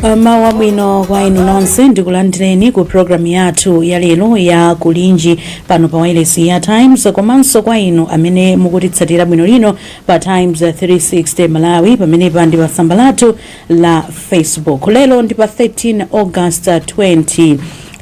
mawu abwino kwa inu nonse ndikulandireni ku programu yathu ya lero ya kulinji pano pa wailesi ya times komanso kwa inu amene mukutitsatira bwinolino pa times 360 malawi pamenepa ndi pa tsamba lathu la facebook lero ndi pa 13 august 20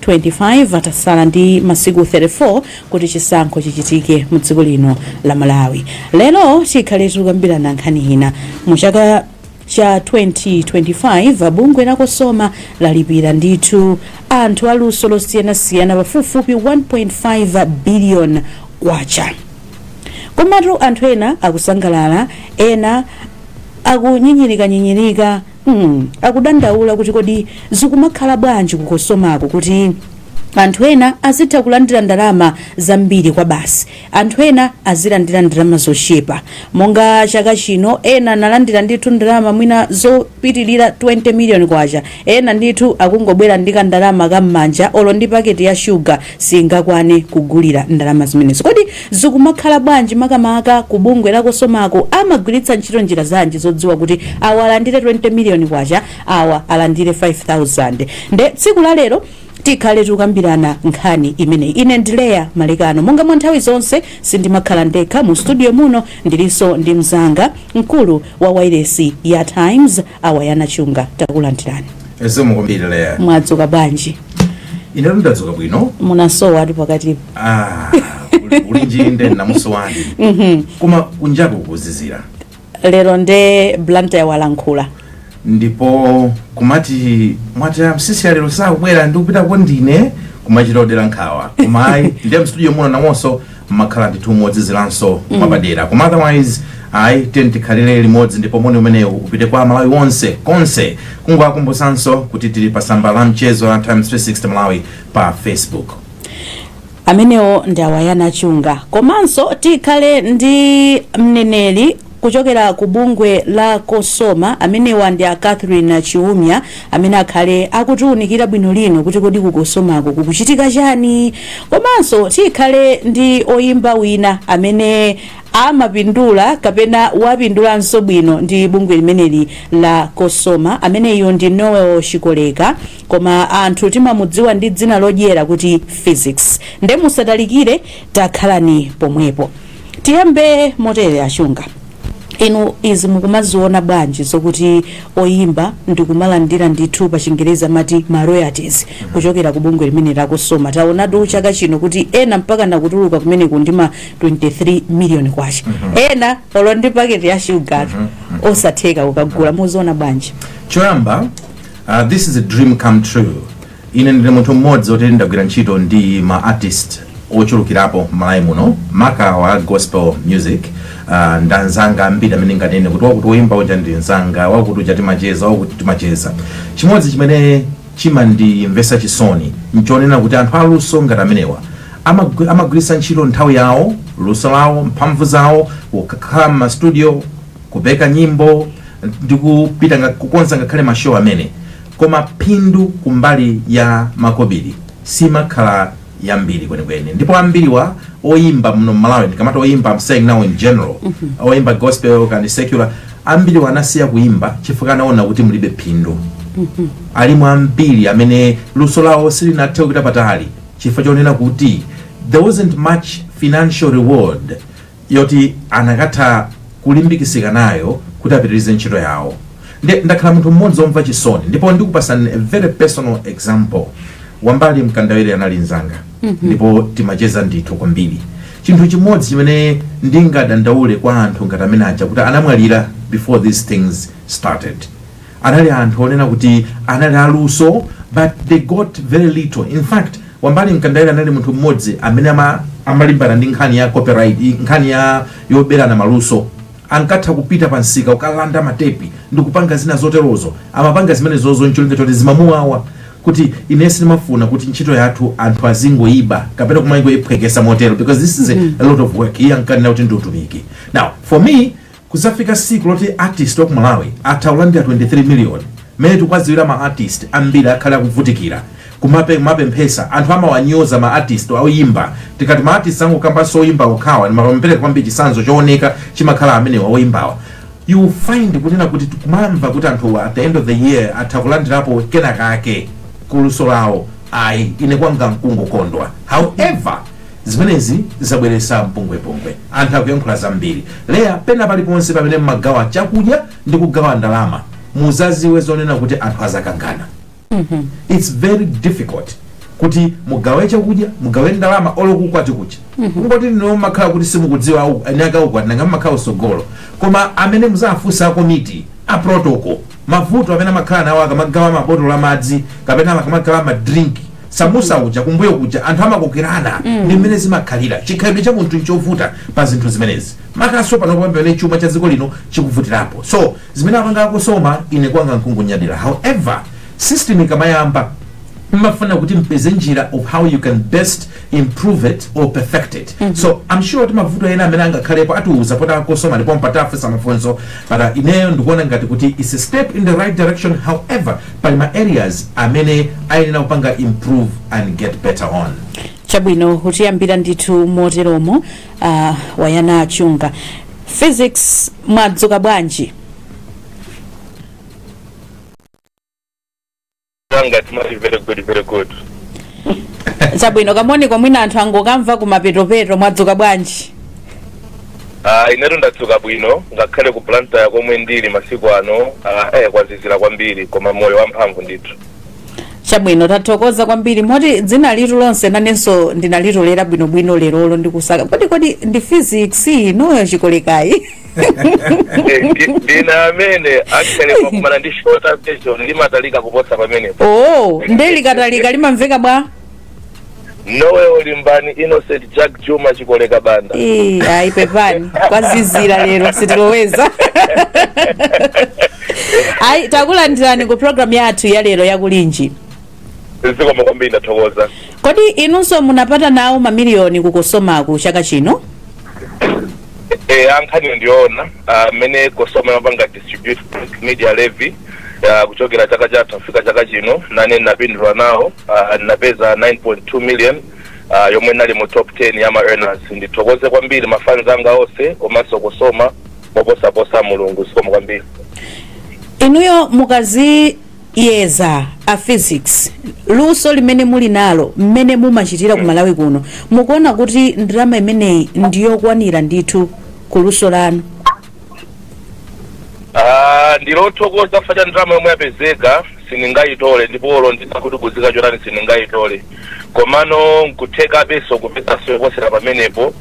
25 atasala ndi masiku 34 kuti chisankho chichitike mu dziko lino la malawi lero tikhale tikukambirana nkhani ina mu chaka cha 2025 bungwe la Cosoma lalipira ndithu anthu aluso losiyanasiyana pafupifupi 1.5 biliyoni kwacha. Komatu anthu ena akusangalala, ena akunyinyirikanyinyirika mm, akudandaula kuti kodi zikumakhala bwanji ku Cosomako kuti anthu ena azitha kulandira ndalama zambiri kwa basi anthu ena azilandira ndalama zochepa monga chaka chino ena analandira ndithu ndalama mwina zopitilira 20 million kwacha ena ndithu akungobwera ndi kandalama kam'manja olo ndi paketi ya shuga singakwane kugulira ndalama zimenezo kodi zikumakhala bwanji makamaka ku bungwe la Cosomako amagwiritsa ntchito njira zanji zodziwa kuti awa alandire 20 million kwacha awa alandire 5000 nde tsiku la lero Tikhale tikukambirana nkhani imeneyi. Ine ndi Leah Malekano. Monga mwa nthawi zonse, sindimakhala ndekha. Mu studio muno ndilinso ndi mnzanga, mkulu wa wailesi ya Times, a Wayana Chunga. Takulandirani. Zikomo kwambiri Leah. Mwadzuka bwanji? Ine ndadzuka bwino. Munasowa ati pakatipo. Ah, Kulinji nde inakusowani. Koma kunjaku kuzizira. lero nde blantyre walankhula ndipo kumati mwati amsisi a Leah lero sakubwera ndi kupita kwandi ine kumachita kudera nkhawa koma ayi ndiye mstudio muno nawonso mmakhala ndithu mozizilanso mwapadera koma otherwise ayi tiyeni tikhalire limodzi ndipo moni umenewu upite kwa malawi wonse konse kungowakumbutsanso kuti tili pa tsamba la mchezo la times 360 malawi pa facebook Amenewo ndi a Wayana Chunga. Komanso tikhale ndi mneneri kuchokera ku bungwe la Cosoma, amenewa ndi a Catherine Chiumia amene akhale akutiunikira bwinolino kuti kodi ku Cosomako kukuchitika chani. Komanso tikhale ndi oyimba wina amene amapindula kapena wapindulanso bwino ndi bungwe limeneli la Cosoma, ameneyu ndi Noel Chikoleka. koma anthu timamudziwa ndi dzina lodyera kuti Phyzix nde musatalikire takhalani pomwepo tiyambe motere a Chunga inu izi mukumaziona bwanji zokuti oyimba ndikumalandira ndithu pa chingerezi amati ma royalties kuchokera ku bungwe limeneli la Cosoma taonatu chaka chino kuti ena mpaka akutuluka kumeneko ndi ma 23 million kwacha ena olo ndi paketi ya shuga osatheka kukagula muziona bwanji choyamba Uh, this is a dream come true ine ndine munthu mmodzi oti ndagwira ntchito ndi ma artist ochulukirapo m'malawi muno maka wa gospel music uh, nda anzanga ambiri amene nganene kuti wakuti woyimba uja ndi nzanga wakuti uja timacheza wakuti timacheza chimodzi chimene chimandimvetsa chisoni nchonena kuti anthu aluso ngati amenewa amagwi- amagwiritsa ntchito nthawi yawo luso lawo mphamvu zawo kukhala m'mastudio kupeka nyimbo ndi kupita nga- kukonza ngakhale mashow amene koma phindu kumbali ya makobiri simakhala yambiri kwenikweni ndipo ambiriwa oyimba muno mmalawi ndikamati oyimba I'm saying now in general oyimba gospel kaya ndi secular ambiriwa anasiya kuimba chifukwa anaona kuti mulibe phindu alimu ambiri amene luso lawo silinathe kupita patali chifukwa chonena kuti there wasn't much financial reward yoti anakatha kulimbikisika nayo kuti apitirize ntchito yawo nde ndakhala munthu mmodzi omva chisoni ndipo ndikupasani a very personal example wambali mkandawire anali nzanga ndipo timacheza ndithu kwambiri chinthu chimodzi chimene ndingadandaule kwa anthu ngati amene aja kuti anamwalira before these things started anali anthu onena kuti anali aluso but they got very little in fact wambali mkandawire anali munthu mmodzi amene ama, amalimbana ndi nkhani ya copyright i- nkhani ya yoberana maluso ankatha kupita pa msika ukalanda matepi ndi kupanga zina zoterozo amapanga zimenezozo ncholinga choti zimamuwawa kuti iye samafuna kuti ntchito yathu anthu azingoyiba kapena kumangoyiphwekesa motero because this is a, a lot of work iye ankanena kuti ndi utumiki now for me Kuzafika siku loti artist waku Malawi atha kulandira 23 million, mmene tikuwadziwira ma artist ambiri akhala akuvutikira kumape kumapemphesa anthu amawanyoza ma artist oyimba tikati ma artist sangokambanso oyimba okhawa ndimangopereka kwambiri chitsanzo chowoneka chimakhala amenewa oyimbawa you will find kunena kuti kumamva kuti anthu at the end of the year atha kulandirapo kenakake ku luso lawo ayi ine kwanga nkungokondwa however Zimenezi zabweretsa mpungwepungwe. Anthu akuyankhula zambiri. Leah, pena paliponse pamene mmagawa chakudya ndi kugawa ndalama, muzadziwe zonena kuti anthu azakangana. Its very difficult kuti mugawe chakudya, mugawe ndalama olo kuukwati kuja. Kungoti inuyo mmakhala kuti simukudziwa au- eniake aukwati nanga mmakhala usogolo. Koma amene muzafunse a komiti, a protocol, Mavuto amene amakhala nawo akamagawa mabotolo a madzi kapena akamagawa ma drink samusa uja kumbuyo kuja anthu amakokerana ndi mmene zimakhalira chikhalidwe cha munthu nchovuta pa zinthu zimenezi makanso panopo pamene chuma cha dziko lino chikuvutirapo so zimene apanga a COSOMA ine kwanga nkungonyadira however system ikamayamba imafuna kuti mpeze njira of how you can best improve it or perfect it mm -hmm. so i'm sure kuti mavuto ena amene angakhalepo atiuza poti a Kosoma ndipo mpata wofunsa mafunso but uh, ineyo ndikuona ngati kuti it's a step in the right direction however pali ma areas amene ayenera kupanga improve and get better on chabwino kutiyambira ndithu moteromo uh, wayana achinga Phyzix mwadzuka bwanji Tanga timati very good very good. chabwino kamoniko mwina anthu angokamva kumapetopeto mwadzuka bwanji Ah inetu ndadzuka bwino ngakhale ku Blantyre komwe ndili masiku ano ah eh kwazizira kwambiri koma moyo wamphamvu ndithu. chabwino tathokoza kwambiri moti dzina litu lonse nanenso ndinalitolera bwinobwino lerolo ndikusaka kodi kodi ndi Phyzix inuyo Chikolekayi ndinu amene actually pakumana ndi shorter version limatalika kuposa pamenepo oh nde likatalika limamveka bwa Noel Limbani Innocent Jack Juma Chikoleka Banda Eh, ayi pepani kwazizira lero sitiloweza ayi takulandirani ku programu yathu ya lero ya Kulinji zikomo kwambiri ndathokoza kodi inunso munapata nawo mamiliyoni ku Kosomaku chaka chino e, ankhani ndione mmene Kosoma imapanga distribute media levy ah, kuchokera chaka chatha kufika chaka chino nane ndinapindula nawo ah, ndinapeza 9.2 million ah, yomwe ndinali mu top 10 ya ma earners ndithokoze kwambiri mafans anga onse komanso Kosoma moposaposa mulungu zikomo kwambiri inuyo mukadzi yeza a Phyzix luso limene muli nalo mmene mumachitira ku malawi kuno mukuona kuti ndalama imeneyi ndiyokwanira ndithu ku luso lanu Ah, ndili othokoza chifukwa cha ndalama yomwe yapezeka sindingayitole ndipo olo nditati kuguza chotani sindingayitole komano nkutheka benso kupezaso yoposera pamenepo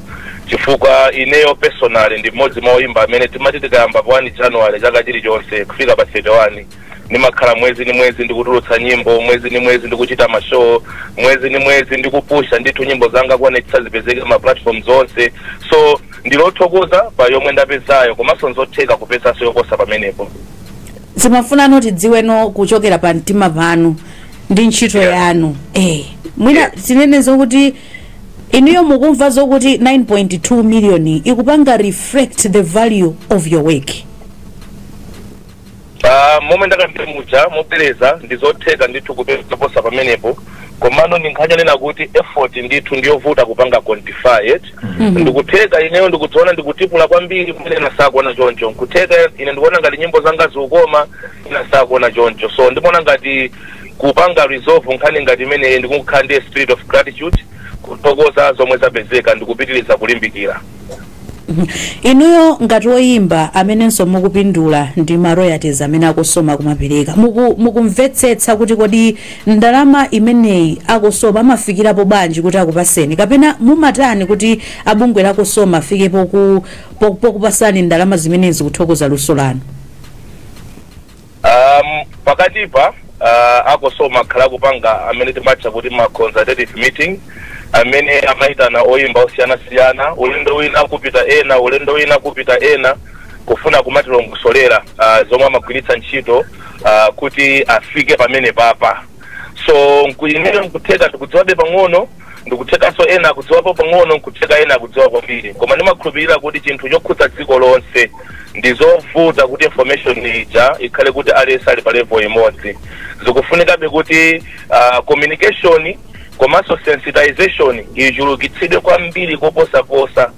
chifukwa ineyo personally ndi mmodzi mwa oyimba amene timati tikayamba pa 1 january chaka chilichonse kufika pa 31 ndimakhala mwezi ni mwezi ndikutulutsa nyimbo mwezi ni mwezi ndikuchita mashow mwezi ni mwezi ndikupusha ndithu nyimbo zanga kuonetsa zipezeke ma platform onse so ndili othokoza pa yomwe ndapezayo komanso nzotheka kupezaso yoposa pamenepo timafuna no tidziwe no kuchokera pa mtima panu ndi ntchito Yeah. yanu eh mwina Yeah. tinene zokuti inuyo mukumva zokuti 9.2 million ikupanga reflect the value of your work Pa momwe ndakambira muja mobwereza ndizotheka ndithu kupeza zoposa pamenepo komano ndi nkhani yonena kuti effort ndithu ndiyovuta kupanga quantify it ndikutheka ineyo ndikudziona ndikutipula kwambiri pamene ena sakuona choncho nkutheka ine ndikuona ngati nyimbo zanga zikukoma ena sakuona choncho so ndimaona ngati kupanga resolve nkhani ngati imeneyi ndikukhala ndi a spirit of gratitude kuthokoza zomwe zapezeka ndikupitiriza kulimbikira Inuyo ngati oyimba amenenso mukupindula ndi ma royalties amene a Cosoma akumapereka, mukumvetsetsa kuti kodi ndalama imeneyi a Cosoma amafikirapo bwanji kuti akupatseni kapena mumatani kuti a bungwe la Cosoma afike pokupatsani ndalama zimenezi kuthokoza luso lanu? Um, pakatipa uh, a Cosoma akhala akupanga amene timatcha kuti ma consultative meeting amene amayitana oyimba osiyanasiyana ulendo wina kupita ena ulendo wina kupita ena kufuna kumatilongosolera uh, zomwe amagwiritsa ntchito uh, kuti afike pamenepapa so ineyo nkutheka ndikudziwabe pang'ono Ndikuthekanso ena akudziwapo pang'ono nkutheka ena akudziwa kwambiri koma ndimakhulupilira kuti chinthu chokhudza dziko lonse ndizovuta kuti information ija ikhale kuti aliyense ali pa level imodzi zikufunikabe kuti uh, communication komanso sensitization ichulukitsidwe kwambiri koposaposa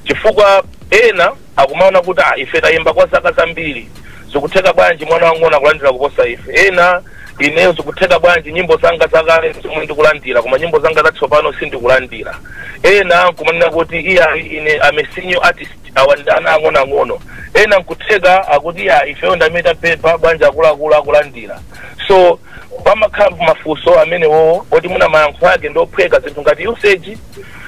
chifukwa ena Akumaona kuti, ah, ife tayimba kwa zaka zambiri, zikutheka bwanji mwana wang'ono akulandira kuposa ife? Ena, ineyo zikutheka bwanji nyimbo zanga zakale zomwe ndikulandira, koma nyimbo zanga zatsopano sindikulandira? Ena nkumanena kuti, iya, ine I'm a senior artist, awa ndi ana ang'onoang'ono. Ena nkutheka akuti, iya, ifeyo ndi amene tapepa, bwanji akuluakulu akulandira? So pamakhala mafunso amenewo oti mwina mayankho ake ndi ophweka zinthu ngati usage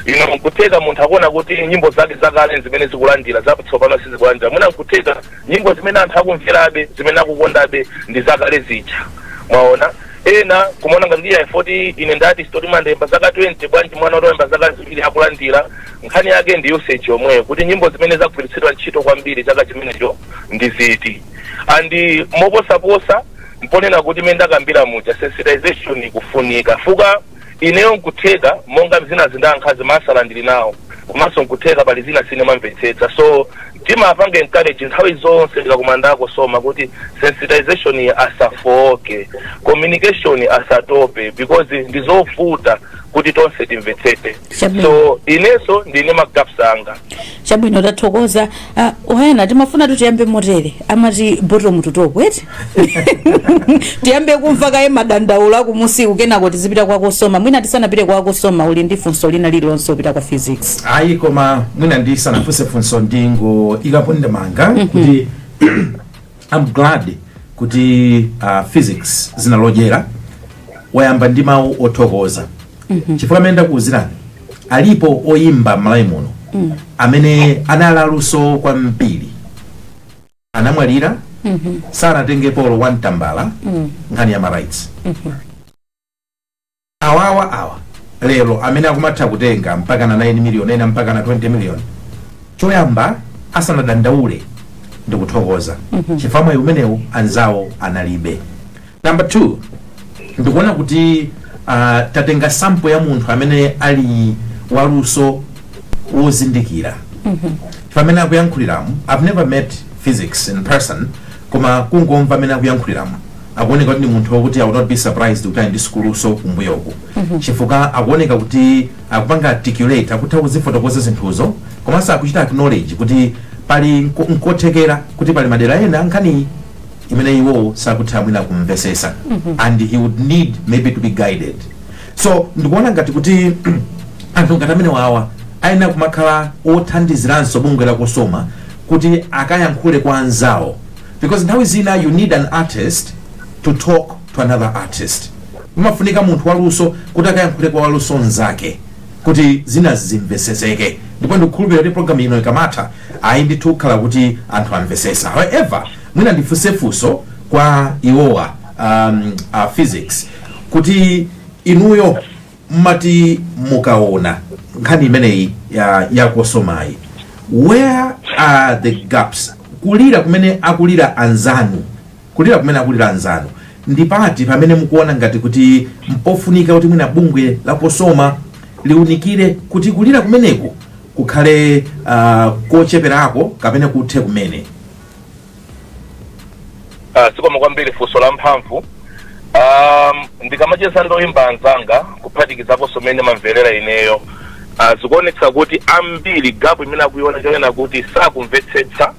ino nkutheka munthu akuona kuti nyimbo zake zakale zimene zikulandira zatsopano sizikulandira mwina nkutheka nyimbo zimene anthu akumverabe zimene akukondabe ndi zakale zija mwaona ena kumaona ngati ndiye poti ine ndati sitoti ndayimba zaka 20 bwanji mwana oti wayimba zaka ziwiri akulandira nkhani yake ndi usage yomweyo kuti nyimbo zimene zagwiritsidwa ntchito kwambiri chaka chimenecho ndi ziti and moposaposa n'ponena kuti mene ndakambira muja sensitization ikufunika chifukwa Ineyo nkutheka monga zinazi ndayankhazi ma answer ndili nawo komanso nkutheka pali zina sine mamvetsetsa so timapanga encourage nthawi zonse tikakumana ndi a Cosoma kuti sensitization-yi asafooke communication asatope because ndizovuta kuti tonse timvetsetse. chabwino so ineso ndili ndi ma gaps anga chabwino tathokoza Ah, oyana timafunatu tiyambe motere amati bottom to top eti tiyambe kumva kaye madandaulo akumusiku kenako tizipita kwa Cosoma mwina tisanapite kwa Cosoma uli ndi funso lina lililonse lopita kwa Phyzix ayi koma mwina ndisanafunse funso ndingoikapo ndemanga kuti I'm glad kuti uh, phyzix dzina lodyera wayamba ndi mawu othokoza chifukwa mmene ndakuwuzirani alipo oyimba m'Malawi muno amene anali aluso kwambiri anamwalira sanatengepo olo 1 tambala nkhani ya ma rights Awawa awa lero amene akumatha kutenga mpakana 9 million ena mpakana 20 million choyamba asanadandaule ndikuthokoza chifukwa mwayi umenewu anzawo analibe number 2 ndikuona kuti ah, tatenga sample ya munthu amene ali waluso wozindikira mmene akuyankhuliramu i've never met Phyzix in person koma kungomva mmene akuyankhuliramo akuoneka kuti ndi munthu wokuti i would not be surprised kuti ali ndi sukuluso kumbuyoku chifukwa akuoneka kuti akupanga articulate akutha kuzifotokoza zinthuzo komanso akuchita acknowledge kuti pali nko- nkothekera kuti pali madera ena a nkhani imene iwowo sakutha mwina kumvesesa and he would need maybe to be guided so ndikuona ngati kuti anthu ngati amenewawa ayenera kumakhala othandiziranso bungwe la Cosoma kuti akayankhule kwa anzawo because nthawi zina you need an artist to talk to another artist umafunika munthu waluso kuti akayankhule kwa waluso nzake kuti zina zimveseseke ndipo ndikukhulupirira kuti programu ino ikamatha ayi ndithu kukhala kuti anthu amvesesa however mwina ndifunse funso kwa iwowa um, uh, Phyzix kuti inuyo mmati mukaona nkhani imeneyi ya Cosomayi where are the gaps kulira kumene akulira anzanu kulira kumene akulira anzanu ndi pati pamene mukuona ngati kuti mpofunika kuti mwina bungwe la Cosoma liunikire kuti kulira kumeneku kukhale uh, kocheperako kapena kuthe kumene Ah, zikomo kwambiri funso la mphamvu um, ndikamacheza ndi oyimba anzanga kuphatikizaponso mmene mamverera ineyo ah, zikuonetsa kuti ambiri gapu imene akuiona nchonena kuti sakumvetsetsa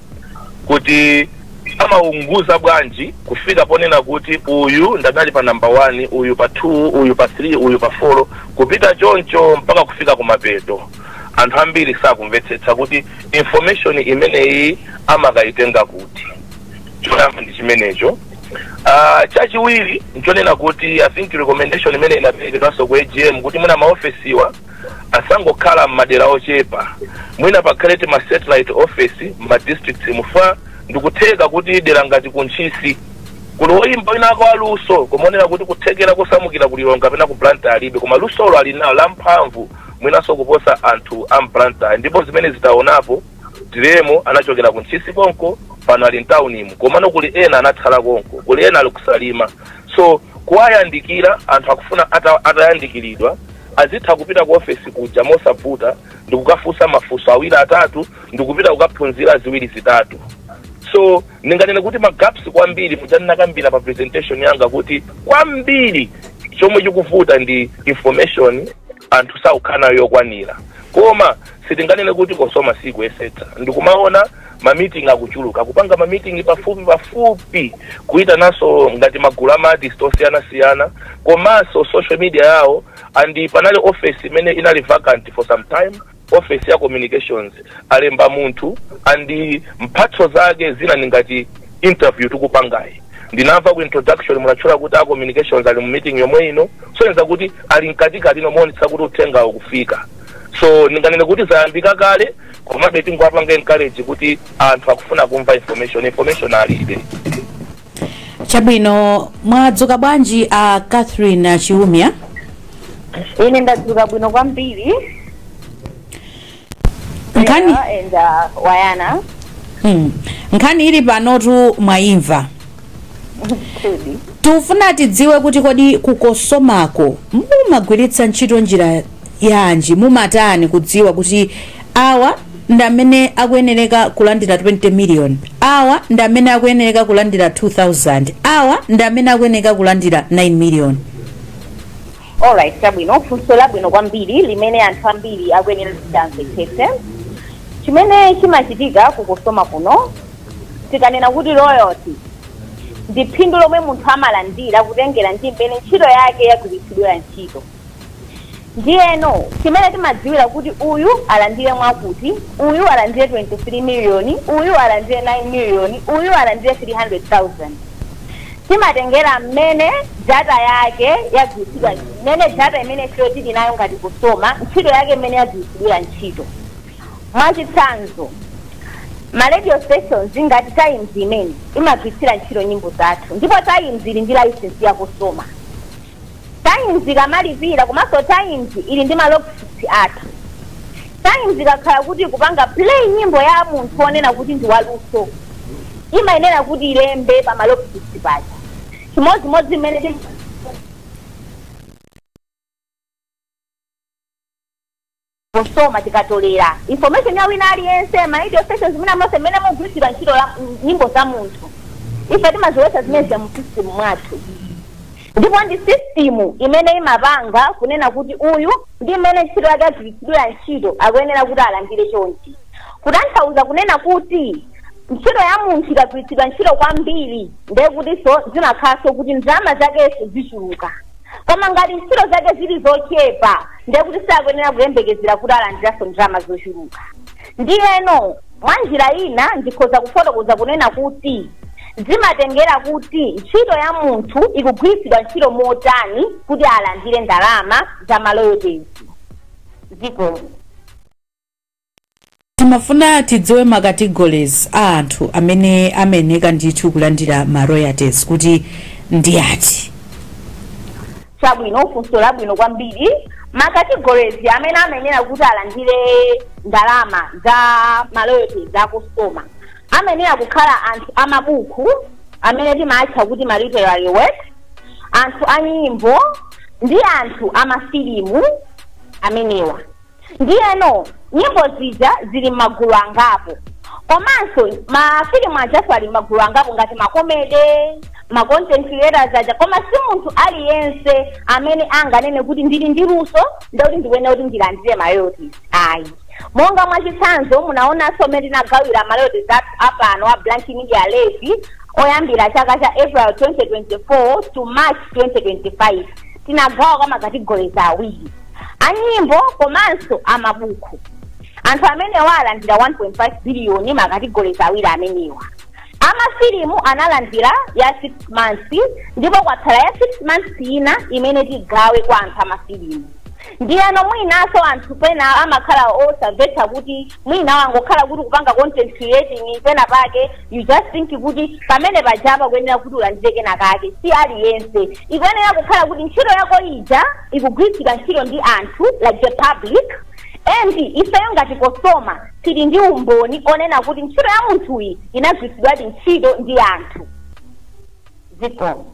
kuti amaunguza bwanji kufika ponena kuti uyu ndadali pa namba 1 uyu pa 2 uyu pa 3 uyu pa 4 kupita choncho mpaka kufika kumapeto anthu ambiri sakumvetsetsa kuti information imeneyi amakayitenga kuti choyamba ndi chimenecho Ah, chachiwiri nchonena kuti i think recommendation imene inaperekedwanso ku agm kuti mwina maofesiwa asangokhala m'madera ochepa mwina pakhale tima satellite office m'ma districts chifukwa ndikutheka kuti dera ngati kuntchisi kuli oyimba winake waluso koma onena kuti kuthekera kosamukira ku lilongwe kapena ku blantyre alibe koma lusolo ali nawo lamphamvu mwinanso kuposa anthu a m'Blantyre ndipo zimenezi taonapo. Diremo anachokera ku Ntchisi konko pano ali m'taunimu komano kuli ena anatsala konko, kuli ena ali ku Salima. So kuwayandikira anthu akufuna atayandikiridwa azitha kupita ku ofesi kuja mosavuta ndikukafunsa mafunso awiri atatu ndikupita kukaphunzira ziwiri zitatu so ndinganene kuti ma gaps kwambiri muja ndinakambira pa presentation yanga kuti kwambiri chomwe chikuvuta ndi information anthu sakukhala nayo yokwanira koma sitinganene kuti Cosoma sikuyesetsa ndikumaona mamiting akuchuluka kupanga mamiting pafupi pafupi kuyitananso ngati magulu a ma artist osiyanasiyana komanso social media yawo and panali office imene inali vacant for some time office ya communications alemba munthu and mphatso zake zina ndi ngati interview tikupangayi ndinamva ku introduction munatchula kuti a communications ali mu meeting yomwe ikusonyeza kuti ali mkatikati moonetsetsa kuti uthenga ukufika so ndinganene kuti zayambika kale komabe tingowapanga encourage kuti anthu akufuna kumva information information alibe chabwino mwadzuka bwanji a catherine chiumia ine ndadzuka bwino kwambiri nkhani wayana nkhani ili panotu mwayimva tikufuna tidziwe kuti kodi ku Cosomako mumagwiritsa ntchito njira yanji mumatani kudziwa kuti awa ndi amene akuyenereka kulandira 20 million awa ndi amene akuyenereka kulandira 2000 awa ndi amene akuyenereka kulandira 9 million alright chabwino funso labwino kwambiri limene anthu ambiri akuyenera kuti amvetsetse chimene chimachitika ku Cosoma kuno tikanena kuti royalty ndi phindu lomwe munthu amalandira kutengera ndi mmene ntchito yake yagwiritsidwira ntchito Ndiyeno chimene timadziwira kuti uyu alandire mwakuti, uyu alandire 23 miliyoni, uyu alandire 9 miliyoni, uyu alandire 300,000, timatengera mmene data yake yagwiritsidwa, mmene data imene ifeyo tili nayo ngati Cosoma, ntchito yake mmene yagwiritsidwira ntchito. Mwachitsanzo, ma radio stations ngati Times imene, imagwiritsira ntchito nyimbo zathu ndipo Times ili ndi licence ya Cosoma. Times ikamalipira komanso Times ili ndi ma logs athu. Times ikakhala kuti ikupanga play nyimbo ya munthu wonena kuti ndi waluso, imayenera kuti ilembe pa ma logs paja. Chimodzimodzi mmene tim Cosoma tikatolera information ya wina aliyense ma radio stations mwina monse mmene mukugwiritsidwa ntchito la- m- nyimbo za munthu ife timaziika zimene zija mu system mwathu ndipo ndi system imene imapanga kunena kuti uyu ndi mmene ntchito yake yagwiritsidwira ntchito akuyenera kuti alandire chonchi kutanthauza kunena kuti ntchito ya munthu ikagwiritsidwa ntchito kwambiri ndiye kutinso zimakhalanso kuti ndalama zakenso zichuluka koma ngati ntchito zake zili zochepa ndiye kuti sakuyenera kuyembekezera kuti alandiranso ndalama zochuluka. Ndiyeno, mwa njira ina ndikhoza kufotokoza kunena kuti, Zimatengera kuti ntchito ya munthu ikugwiritsidwa ntchito motani kuti alandire ndalama za ma royalties. Zikomo. Timafuna tidziwe ma categories a anthu amene amayeneka ndithu kulandira ma royalties kuti ndi ati. Chabwino, funso labwino kwambiri. Ma categories amene amayenera kuti alandire ndalama za ma royalties a Cosoma amayenera kukhala anthu a mabuku amene timaatcha kuti ma literary works, anthu a nyimbo ndi anthu a mafilimu amenewa. ndiyeno nyimbo zija zili m'magulu angapo komanso mafilimu ajaso ali m'magulu angapo ngati makomede ma content creators aja koma si munthu aliyense amene anganene kuti ndili ndi luso ndiye kuti ndikuyenera kuti ndilandire ma royalties ayi monga mwachitsanzo munaonanso mmene tinagawira ma royalties apano a blank media levy oyambira chaka cha april 2024 to march 2025 tinagawa kwa ma categories awiri a nyimbo komanso a mabuku anthu amenewa alandira 1.5 biliyoni ma categories awiri amenewa amafilimu analandira ya 6 months ndipo kwatsala ya 6 months ina imene tigawe kwa anthu amafilimu ndiyeno mwinanso anthu pena amakhala osamvetsa kuti Mwina wangokhala kuti ukupanga content creating pena pake you just think kuti pamene pajapa ukuyenera kuti ulandire kena kake si aliyense ikuyenera kukhala kuti ntchito yako ija ikugwiritsidwa ntchito ndi anthu like the public and ifeyo ngati Cosoma tili ndi umboni onena kuti ntchito ya munthuyi inagwiritsidwadi ntchito ndi anthu zikomo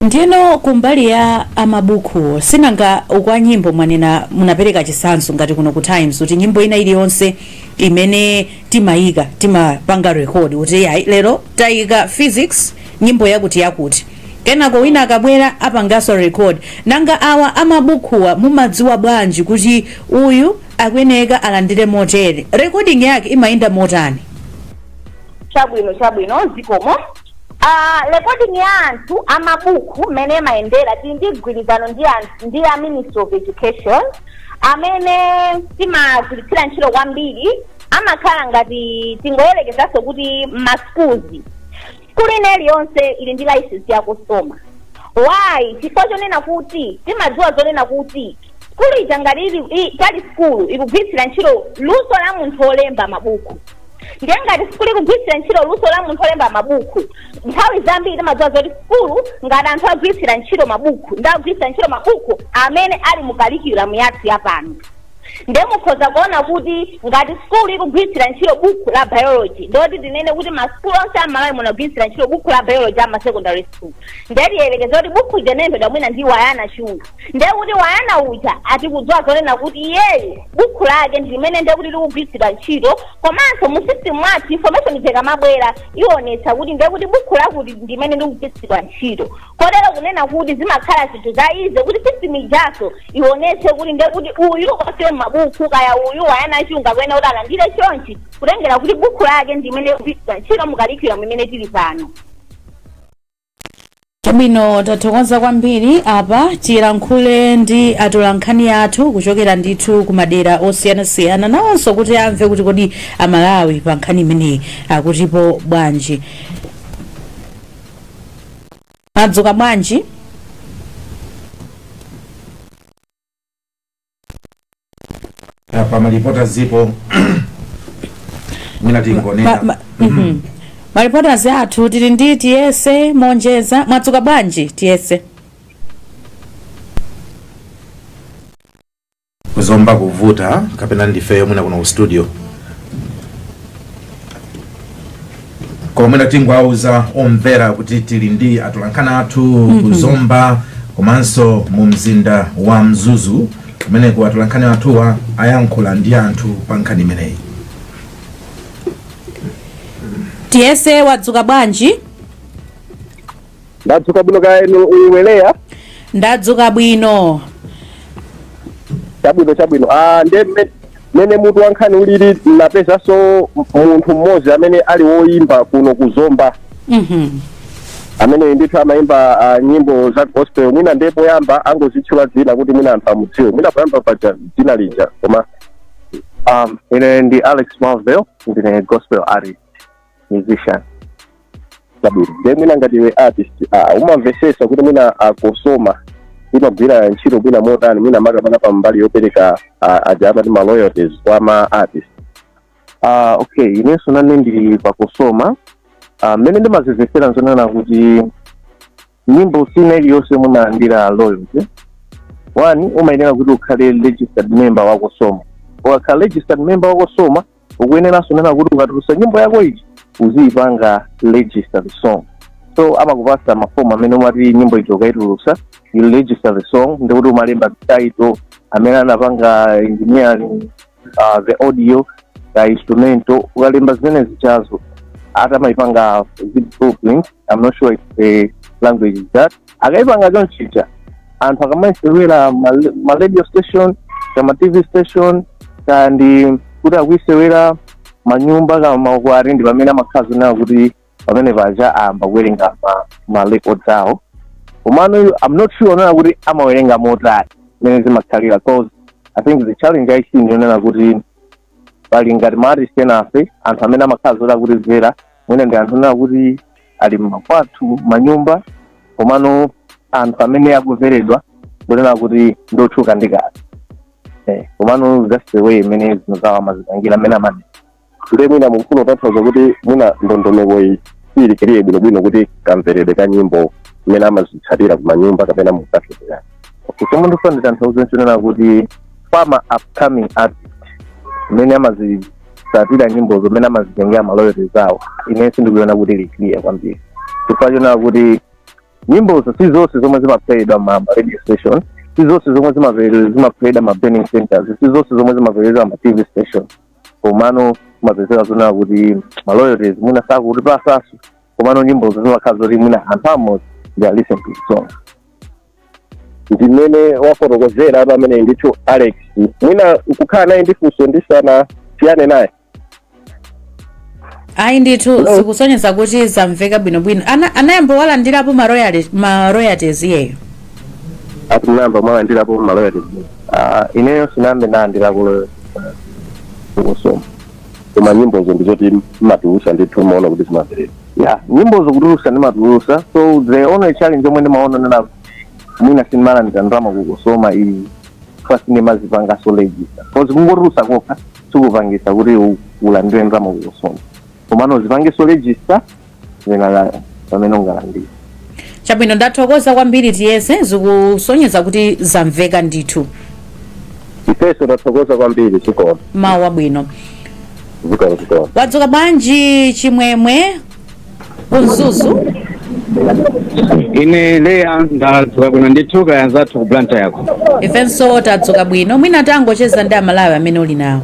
Ndiyeno kumbali ya a mabukhuwo sinanga kwa nyimbo mwanena munapereka chitsanzo ngati kuno ku Times kuti nyimbo ina iliyonse imene timayika timapanga record kuti iyayi lero tayika Phyzix nyimbo yakuti yakuti kenako wina akabwera apanganso record nanga awa a mabukhuwa mumadziwa bwanji kuti uyu akuyeneka alandire motere recording yake imayenda motani? Chabwino, chabwino, zikomo. A recording ya anthu a mabuku mmene amayendera tili ndi mgwirizano ndi a ministry of education amene timagwiritsira ntchito kwambiri amakhala ngati tingoyerekezanso kuti ma schools skulu ina iliyonse ili ndi license ya cosoma why chifukwa chonena kuti timadziwa zonena kuti sukulu ija ngati itali sukulu ikugwiritsira ntchito luso la munthu olemba mabuku ndiye ngati sukulu ikugwiritsira ntchito luso la munthu olemba mabuku nthawi zambiri timadziwa zoti sukulu ngati anthu agwiritsira ntchito mabuku ndi ogwiritsira ntchito mabuku amene ali mu curriculum yathu yapano ndiye mukhoza kuona kuti ngati sukulu ikugwiritsira ntchito buku la biology ndiye kuti tinene kuti masukulu onse amalawi muno agwiritsira ntchito buku la biology ama secondary school ndiye tiyerekeze kuti buku ija inalembedwa mwina ndi wayana chunga ndiye kuti wayana uja atikudziwa zonena kuti iyeyu bukhu lake ndi limene ndiye kuti likugwiritsidwa ntchito komanso mu system mwathu information ija ikamabwera ionetsa kuti ndiye kuti bukhu lakuti ndi limene likugwiritsidwa ntchito kotero kunena kuti zimakhala zinthu za easy kuti system ijaso ionetse kuti ndiye kuti uyu onse mabukhu kaya uyu wayana chunga akuyenera kuti alandire chonchi kutengera kuti bukhu lake ndi limene likugwiritsidwa ntchito mu curriculum imene tili pano chabwino tathokoza kwambiri apa tilankhule ndi atolankhani athu kuchokera ndithu ku madera osiyanasiyana nawonso kuti amve kuti kodi amalawi pa nkhani imeneyi akutipo bwanji mwadzuka bwanji Ah, pa ma reporters po mwina tingonena Ma- ma- mhm. ma reporters athu tili ndi tiyese monjeza mwadzuka bwanji tiyese kuzomba kuvuta kapena ndifeyo mwina kuno ku studio koma mwina tingowauza omvera kuti tili ndi atolankhani athu ku zomba komanso mu mzinda wa mzuzu kumeneko atolankhani athuwa ayankhula ndi anthu pa nkhani imeneyi tiyese wadzuka bwanji ndadzuka bwino kaya inu wileya ndadzuka bwino chabwino chabwino ah nde mme- mmene mutu wa nkhani ulili mnapezaso munthu mmodzi amene ali woyimba kuno ku zomba Mhm. amene ndithu amayimba ah, nyimbo za gospel mwina nde poyamba angozitchula dzina kuti mwina anthu amudziwe mwina poyamba paja pa dzina lija koma um, ine ndi alex marvel ndine gospel artist musician chabwino nde mwina ngati iwe artist ah, umamvesesa kuti mwina a Cosoma imagwira ntchito mwina motani mwina makamaka pa mbali yopereka ah, aja amati ma loyalties kwa ma artist Ah, okay inenso nane ndili pa Cosoma Ah, mmene ndimazimvesera nzonena kuti nyimbo ina iliyonse yomwe imalandira royalty one umayenera kuti ukhale registered member wa Cosoma ukakhala registered member wa Cosoma ukuyeneranso kunena kuti ukatulusa nyimbo yako ija uziyipanga register the song so amakupasa mafomu amene umati nyimbo ija ukaitulusa you register the song ndikuti umalemba title amene anapanga engineering uh, the audio the instrumental ukalemba zimene zijazo atha kumayipanga ziblueprint i'm not sure if the language is that akayipanga chonchija anthu akamaisewera ma- ma radio station kaya ma tv station kaya ndi kuti akuisewera manyumba kama makwari ndi pamene amakhazi na okuti pamene paja ayamba kuwerenga ma, ma records awo komano iwo- i'm not sure onena kuti amawerenga motani mmene zimakhalira 'cause i think the challenge i see ndiyonena kuti pali ngati ma artist enafe anthu amene amakhala zoti akutivera mwina ndi anthu onena kuti ali mmakwathu mmanyumba komano anthu amene akuveredwa ndonena kuti ndotchuka ndi kale Eh, komano that's the way imene zinthu zawo amazipangira amene amati ndiye mwina mukufuna kutanthauza kuti mwina ndondomeko iyi ili clear bwinobwino kuti kamveredwe ka nyimbo mmene amazitsatira kumanyumba kapena mukafeera chomwe ndifuna nditanthauze nchonena kuti kwa ma upcoming artist mmene amazitsatira nyimbozo mmene amazitengera maloyalties awo ine sindikuona kuti ili clear kwambiri chifukwa chonena kuti nyimbozo si zonse zomwe zimaplayedwa ma ma radio station si zonse zomwe zimaplayedwa zimaplayedwa ma burning centers si zonse zomwe zimaplayedwa ma tv station komano kumapezeka zonena kuti maloyalties mwina sakutipasaso komano nyimbozo zimakhala zoti mwina anthu amodzi they listen to the song ndimene wafotokozera apa ameneyu ndithu alex mwina nkukhala naye ndi funso tisanasiyane naye ayi ndithu Hello. zikusonyeza kuti zamveka bwinobwino Ana- anayamba walandirapo ma royalty- ma royalties iyeyo ati mnayamba mwalandirapo maloyati ineyo sinambe ndalandirapo ku Cosoma koma nyimbozo ndizoti mmatulusa ndithu mmaona kuti zimaplayedwa ya nyimbozo kutulusa ndimatulusa so the only challenge omwe ndimaona nena mwina sindimalandira ndalama ku Cosoma is the fact sindimazipangaso register cause kungotulusa kokha sikupangisa kuti u- ulandire ndalama ku Cosoma komano upangeso register zina la- pamene ungalandire chabwino ndathokoza kwambiri tiyese zikusonyeza kuti zamveka ndithu ifeso tathokoza kwambiri zikomo mawa labwino zikomo zikomo wadzuka bwanji chimwemwe ku mzuzu ine leya ndadzuka bwino ndithu kaya anzathu ku Blantyre-ko ifenso tadzuka bwino mwina tangochezani ndi amalawi amene uli nawo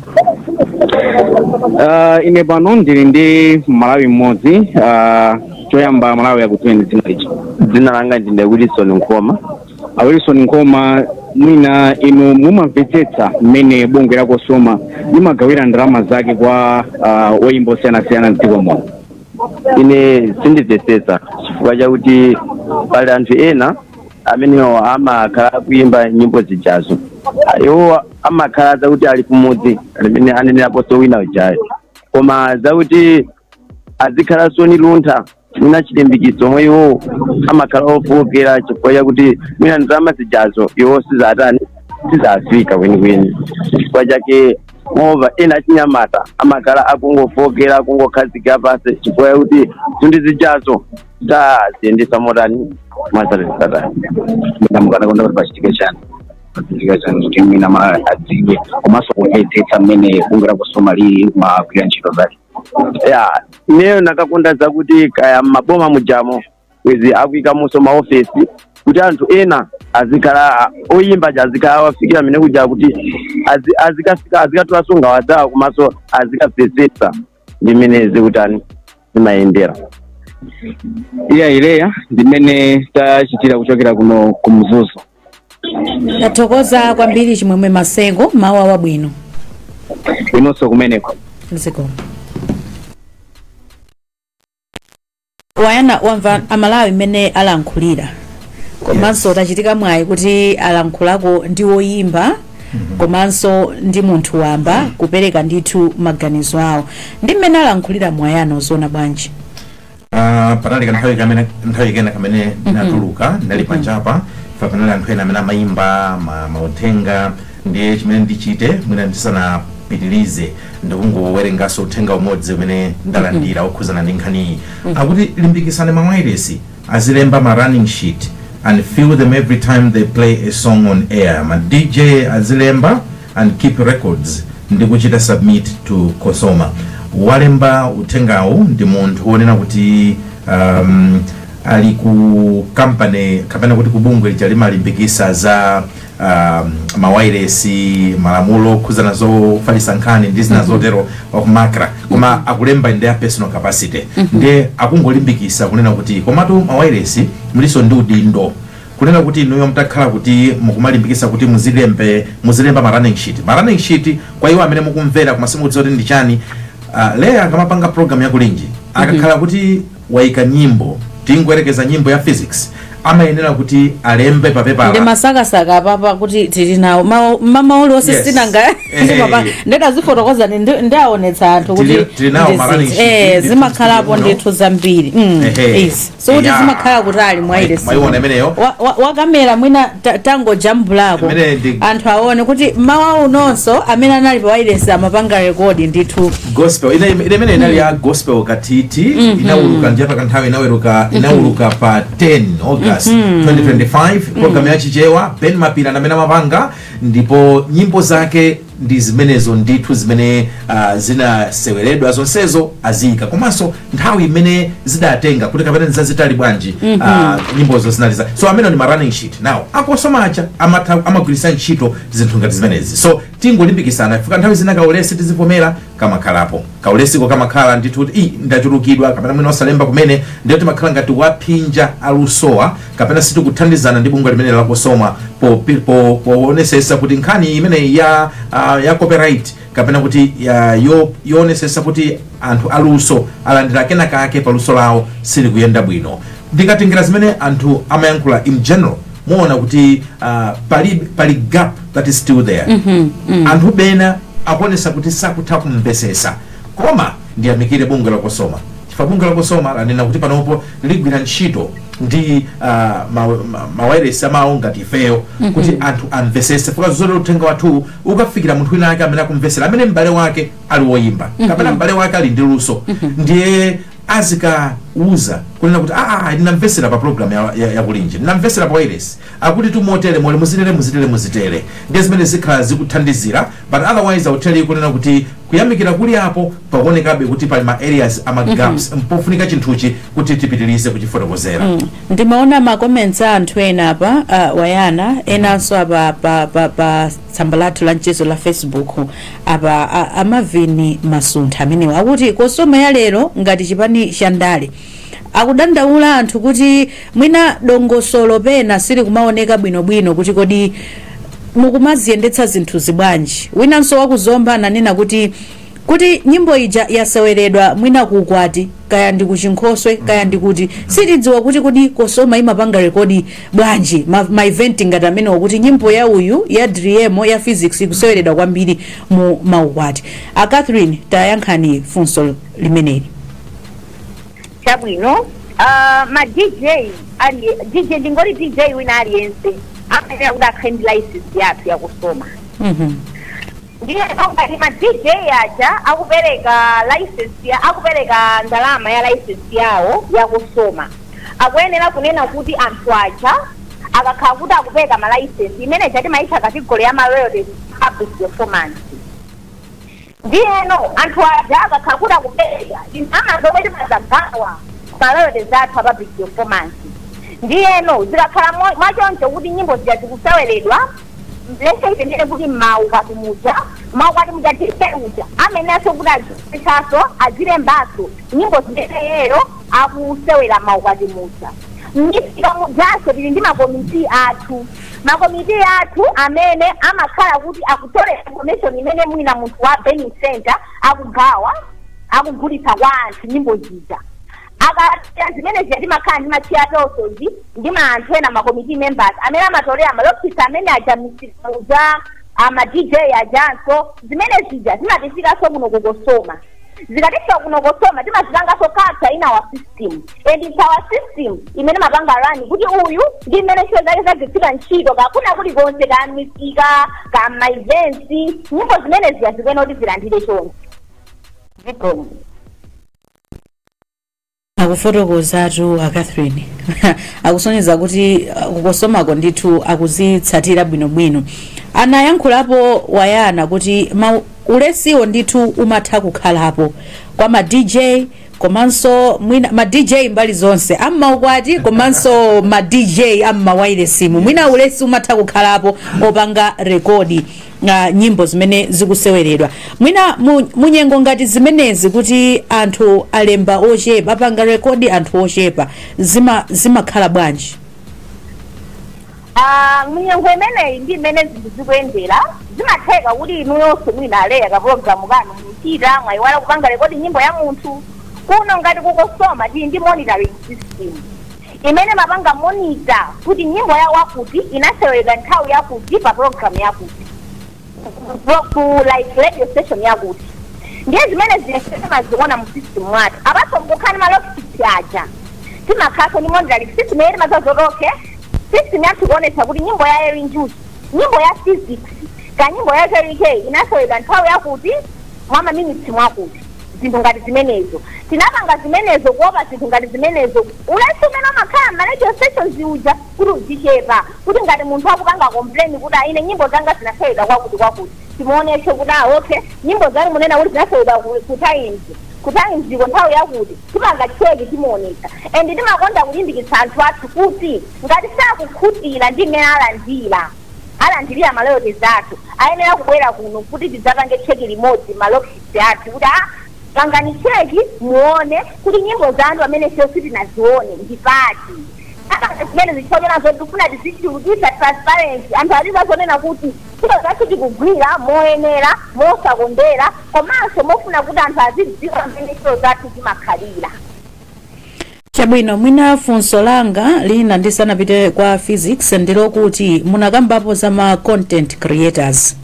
uh, ine pano ndili ndi malawi mmodzi uh, choyamba malawi akutiuzeni dzina dzina langa ndine wilson nkhoma a wilson nkhoma mwina inu mumamvetsetsa mmene bungwe la Cosoma limagawira ndalama zake kwa uh, oyimba osiyanasiyana mdziko muno ine sindimvetsetsa chifukwa chakuti pali anthu ena amenewo amakhala akuimba nyimbo zijazo iwo amakhala zakuti ali kumudzi mmene aneneraponso wina ujayo koma zakuti azikhala so ndi luntha mwina chilimbikitso omwe iwo amakhala ofookera chifukwa chakuti mwina ndalama zijazo iwo sizatani sizafika kwenikweni chifukwa chake moreover ena achinyamata amakhala akungofookera akungokhazika pansi chifukwa chakuti zinthu zijazo saziyendesa motani mwazatesatani ndiye mukanakonda kuti pachitike chani pachitike chani kuti mwina amalawi adziwe komanso kumvetsetsa mmene bungwe la Cosoma limagwirira ntchito zake ya ineyo ndakakonda zakuti kaya maboma mujamo bwezi akuikamonso maofesi kuti anthu ena azikhala oyimba aja azikhala awafikira amene kuja kuti azi- azikafika azikatulanso nkhawa zawo komanso azikamvetsetsa ndi mmene zikutani zimayendera eya leya ndimene tachitira kuchokera kuno ku mzuzu tathokoza kwambiri chimwemwe masengo mawa labwino inunso kumeneko zikomo wayana wamva amalawi mmene alankhulira komanso Yes. tachitika mwayi kuti alankhulako ndi woyimba komanso ndi munthu wamba kupereka ndithu maganizo awo ndi mmene alankhuliramu wayana ukuziona bwanji Ah, panali kanthawi kamene nthawi kena kamene ndinatuluka ndinali panjapa panali anthu ena amene amayimba ma- mauthenga Ndiye chimene ndichite mwina ndisanapitilize ndikungowerengaso uthenga umodzi umene ndalandira wokhuzana ndi nkhaniyi akuti limbikisani ma wailesi azilemba ma running sheet and fill them every time they play a song on air ma dj azilemba and keep records ndi kuchita submit to cosoma walemba uthengawu ndi munthu wonena kuti um, ali ku kampani kapena kuti kubungwe lija limalimbikisa za um, mawairesi malamulo okhudzana zofalitsa nkhani ndi zina zotero wa ku MACRA koma akulemba in their personal capacity ndiye akungolimbikisa kunena kuti komatu mawairesi mulinso ndi udindo kunena kuti inuyo mutakhala kuti mukumalimbikisa kuti muzilemba muzilemba ma running sheet ma running sheet kwa iwo amene mukumvera koma simukudziwa kuti ndi chani uh, leya akamapanga program ya Kulinji akakhala kuti waika nyimbo tingoyerekeza nyimbo ya Phyzix amayenera kuti alembe pa pepala ndimasakasaka apapa kuti tili nawo Ma- mama uli onse Yes. sinanga Eh. ndimapa- ndikazifotokoza ndi- ndi- ndiawonetsa anthu kuti Tili- tili nawo ndi ma running zizi. sheet, Eh, ndithu zimakhalapo zikuno. ndithu zambiri Mm, Ehe. yes. so kuti Yeah. zimakhala kuti ali mwa Mwa- ile mwaiona imeneyo? Wa- wa- wakamera mwina ta- tangojambulako Imeneyi ndi- anthu aone kuti mmawa unonso amene anali pa wailesi amapanga rekodi ndithu gospel ina ina imene inali ya gospel katiti inauluka ndi pakanthawi inauluka inauluka pa 10 august 2025 program ya chichewa Ben Mapira ndamene amapanga ndipo nyimbo zake ndi zimenezo ndithu zimene uh, zinaseweredwa zonsezo aziyika komanso nthawi imene zidatenga kuti kapena nzazitali bwanji mm -hmm. uh, nyimbozo zinali za so amenewa ndi ma running sheet now a Cosoma aja amatha- amagwiritsa ntchito zinthu ngati zimenezi so tingolimbikisana chifukwa nthawi zina kaulesi tizivomera kamakhalapo kaulesiko kamakhala ndithu kuti "Ih, ndachulukidwa" kapena mwina osalemba kumene ndiye timakhala ngati tikuwaphinja alusowa kapena sitikuthandizana ndi bungwe limene la Cosoma popi- po- poonesesa kuti nkhani imeneyi ya ah, ya copyright kapena kuti ya- yo- yoonesesa kuti anthu aluso alandira kena kake pa luso lawo sizikuyenda bwino ndikatengera zimene anthu amayankhula in general muona kuti uh, pali, pali gap that is still there mm -hmm, mm. anthu pena akuonesa kuti sakutha kumvesesa koma ndiyamikire bungwe la Cosoma chifukwa bungwe la Cosoma lanena kuti panopo ligwira ntchito ndi uh, mawairesi ma, ma amao ngati ifeyo mm -hmm. kuti anthu amvesese fuka zozolowera uthenga wathu ukafikira munthu wina ake amene akumvesera amene m'bale wake ali woyimba mm -hmm. kapena m'bale wake ali ndi luso mm -hmm. ndiye azikawauza kunena kuti aa ayi ndinamvesera pa program ya, ya, ya Kulinji ndinamvesera pa wailesi akutitu motere mole muzitere muzitere muzitere ndiye zimene zikhala zikuthandizira but otherwise auteli kunena kuti kuyamikira kulipo pakuonekabe kuti pali ma areas a ma gaps mpofunika chinthuchi kuti tipitirize kuchifotokozera ndimaona ma comments a anthu ena apa uh, tayang'ana enanso apa pa, pa, pa tsamba lathu la mchezo la facebook apa a, a Marvin Masuntha amenewa akuti Cosoma ya lero ngati chipani cha ndale akudandaula anthu kuti mwina dongosolo pena silikumaoneka bwinobwino kuti kodi mukumaziyendetsa zinthuzi bwanji winanso wa ku Zomba ananena kuti kuti nyimbo ija yaseweredwa mwina ku ukwati kaya ndi kuchinkhoswe kaya ndi kuti sitidziwa kuti kodi Cosoma imapanga rekodi bwanji ma, ma event ngati amenewo kuti nyimbo ya uyu ya driemo ya phyzix ikuseweredwa kwambiri mu maukwati a catherine tayankhani funso limeneli chabwino uh, ma dj ali dj ndingoti dj wina aliyense amayenera kuti akhale ndi license yathu ya cosoma mm -hmm. Ndiyeno ngati ma DJ aja akupereka license akupereka ndalama ya license yawo ya Cosoma akuyenera kunena kuti anthu aja akakhala kuti akupereka ma license imene ija timaitcha category ya ma royalties public performance. Ndiyeno anthu aja akakhala kuti akupereka ndalama zomwe timadzagawa ma royalties athu a public performance. Ndiyeno zikakhala mo- mwachoncho kuti nyimbo zija zikuseweredwa let's say tinene kuti mmaukwati muja maukwati muja dj uja amayeneranso kuti azipesaso azilembaso nyimbo zimene yeyo akusewera maukwati muja mmisika mujanso tili ndi makomiti athu makomiti athu amene amakhala kuti akutolera information imene mwina munthu wa burning center akugawa akugulitsa kwa anthu nyimbo zija Akachita zimene zija timakhala ndi ma chair persons ndi ma anthu ena ma committee members amene amatolera ma log sheets amene aja mmisika muja a ma DJ ajanso zimene zija zimatifikanso kuno ku Cosoma. Zikatifika kuno Cosoma timazipanganso capture in our system and it's our system imene imapanga run kuti uyu ndi mmene ntchito zake zagwiritsira ntchito kakuna kulikonse ka misika ka ma events nyimbo zimene zija zikuyenera kuti zilandire chonse. Zikomo. akufotokozatu a catherine akusonyeza kuti uh, ku cosomako ndithu akuzitsatira bwinobwino anayankhulapo wayana kuti ma ulesiwo ndithu umatha kukhalapo kwa ma dj komanso mwina ma dj mbali zonse am'maukwati komanso ma dj am'mawailesimu mwina ulesi umatha kukhalapo opanga rekodi a nyimbo zimene zikuseweredwa mwina mu, munyengo ngati zimenezi kuti anthu alemba ochepa apanga rekodi anthu ochepa zima zimakhala bwanji Ah, munyengo imeneyi ndi mmene zinthu zikuyendera zimatheka kuti inuyonso mwina a leah kapulogalamu kanu muchita mwayiwala kupanga rekodi nyimbo ya munthu kuno ngati ku cosoma tili ndi monitoring system imene imapanga monitor kuti nyimbo ya wakuti inaseweredwa nthawi yakuti pa program yakuti ku- ku like radio station yakuti ndiye zimene zija timaziona mu system mwathu apart from kukhala ndi ma log sheets aja timakhalaso ndi monitoring system yeri mazazotoke system yathu kuonetsa kuti nyimbo ya eli njuchi nyimbo ya phyzix ka nyimbo ya kell kay inaseweredwa nthawi yakuti mwa maminitsi mwakuti zinthu ngati zimenezo. Tinapanga zimenezo kuopa zinthu ngati zimenezo, ulesi umene umakhala mma radio stations uja, kuti uzichepa, kuti ngati munthu akupanga complain kuti ah ine nyimbo zanga zinasewedwa kwakuti kwakuti, timuonetse kuti ah okay, nyimbo zanu munena kuti zinasewedwa ku ku Times, ku Times ko nthawi yakuti, tipanga check timuonetsa. And timakonda kulimbikitsa anthu athu kuti ngati sakukhutira ndi mmene alandira, alandirira ma royalties athu, ayenera kubwera kuno kuti tidzapange check limodzi mma log. athu kuti ah pangani cheki muone kuti nyimbo zanu pamene sio sitinazione ndi pati Saka zimene zichokera zoti tifuna tizichulukitsa transparency anthu azidziwa zonena kuti ntchito zathu tikugwira moyenera mosakondera komanso mofuna kuti anthu azidziwa mmene ntchito zathu zimakhalira chabwino mwina funso langa lina ndisanapite kwa Phyzix ndilokuti munakambapo za ma content creators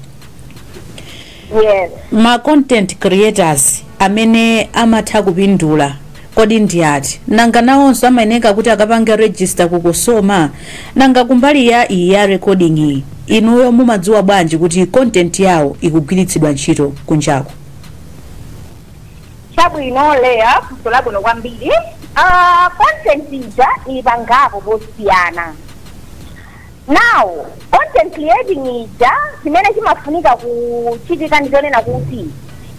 yes ma content creators amene amatha kupindula kodi ndi ati nanga nawonso amayeneka kuti akapange register ku COSOMA nanga kumbali ya iyi ya recording iyi inuyo mumadziwa bwanji kuti content yawo ikugwiritsidwa ntchito kunjako Chabwino Leah, funso labwino kwambiri. Uh, content ija ili pangapo posiyana. Now, content creating ija chimene chimafunika kuchitika ndi chonena kuti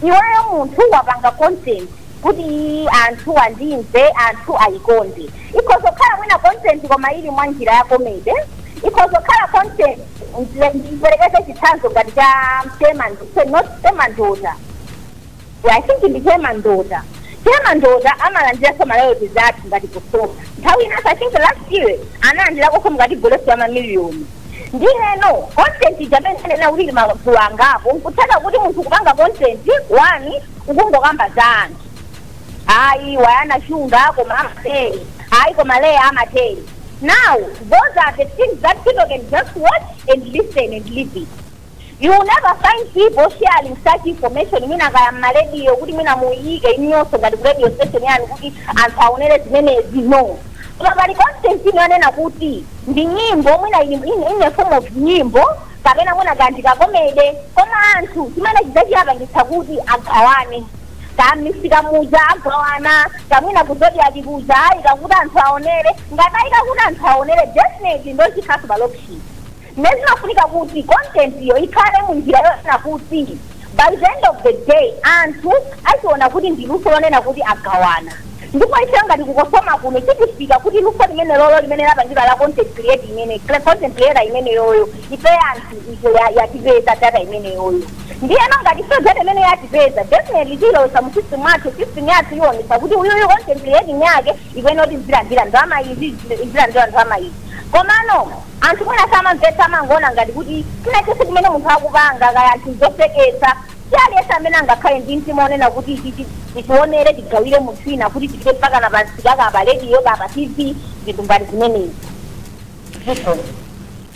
iweyo munthu wapanga content kuti iyi anthu andimve anthu ayikonde ikhoza kukhala mwina content koma ili mwa njira ya comedy ikhoza kukhala content ndiperekeze chitsanzo ngati cha Che Mandise not Che Mandota I think ndi Che Mandota Che Mandota amalandiranso ma royalties athu ngati COSOMA nthawi inanso i think last year analandirakonso ngati gross ya mamiliyoni ndiyeno content ija mmene ndanena kuti ili magulu angapo nkutheka kuti munthu ukupanga content wani ukungokamba za anthu ayi wayana shunga koma amatere ayi koma Leah amatere now those are the things that people can just watch and listen and leave it You will never find people sharing such information mwina kaya mma radio kuti mwina muyiike inuyonso ngati ku radio station yanu kuti anthu aonere zimenezi no koma pali content ina yonena kuti ndi nyimbo mwina ili- in, in a form of nyimbo kapena mwina kaya ndi kakomede koma anthu chimene chidzawapangitsa kuti agawane kaya mmisika muja agawana kaya mwina ku Zodiak kuja ayika kuti anthu aonere ngati ayika kuti anthu aonere definitely nde chikhalanso pa log sheet Ndiye zimafunika kuti content yo ikhale mu njira yonena kuti by the end of the day anthu achiona kuti ndi luso lonena kuti agawana. Ndipo ifeyo ngati ku Cosoma kuno tikufika kuti luso limenelolo limene lapangidwa ndi content create imene content creator imeneyoyo ifeyo anthu ife ya- yatipeza data imeneyoyo. Ndiyeno ngati ifeyo data imene yatipeza definitely tilowesa mu system athu system yathu iwonesa kuti uyuyu content creating yake ikuyenera kuti izilandira ndalama izi izi- izilandira ndalama izi komano anthu mwina samamvetsa amangoona ngati kuti china chonse chimene munthu akupanga kaya anthu zoseketsa si aliyense amene angakhale ndi mtima onena kuti ichi chi- tichionere tigawire munthu wina kuti tipite mpaka na pansi kaya pa rediyo kaya pa tv zinthu ngati zimenezi.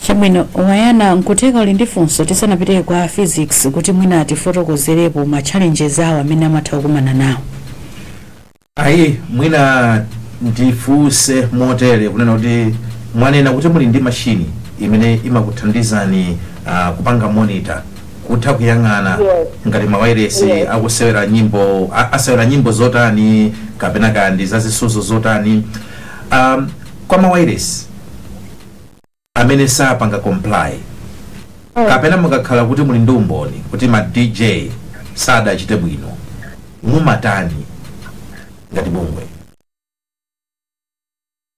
chabwino wayana nkutheka uli ndi funso tisanapite kwa physics kuti mwina atifotokozerepo ma challenges awo amene amatha kukumana nawo ayi mwina ndifunse motere kunena kuti mwanena kuti muli ndi mashini imene imakuthandizani uh, kupanga monitor kutha kuyang'ana Yes. ngati mawairesi Yes. akusewera nyimbo a- asewera nyimbo zotani kapena kaya ndi zazisuzo zotani um, kwa mawairesi amene sapanga comply kapena mukakhala kuti muli ndi umboni kuti ma dj sadachite bwino mumatani ngati bungwe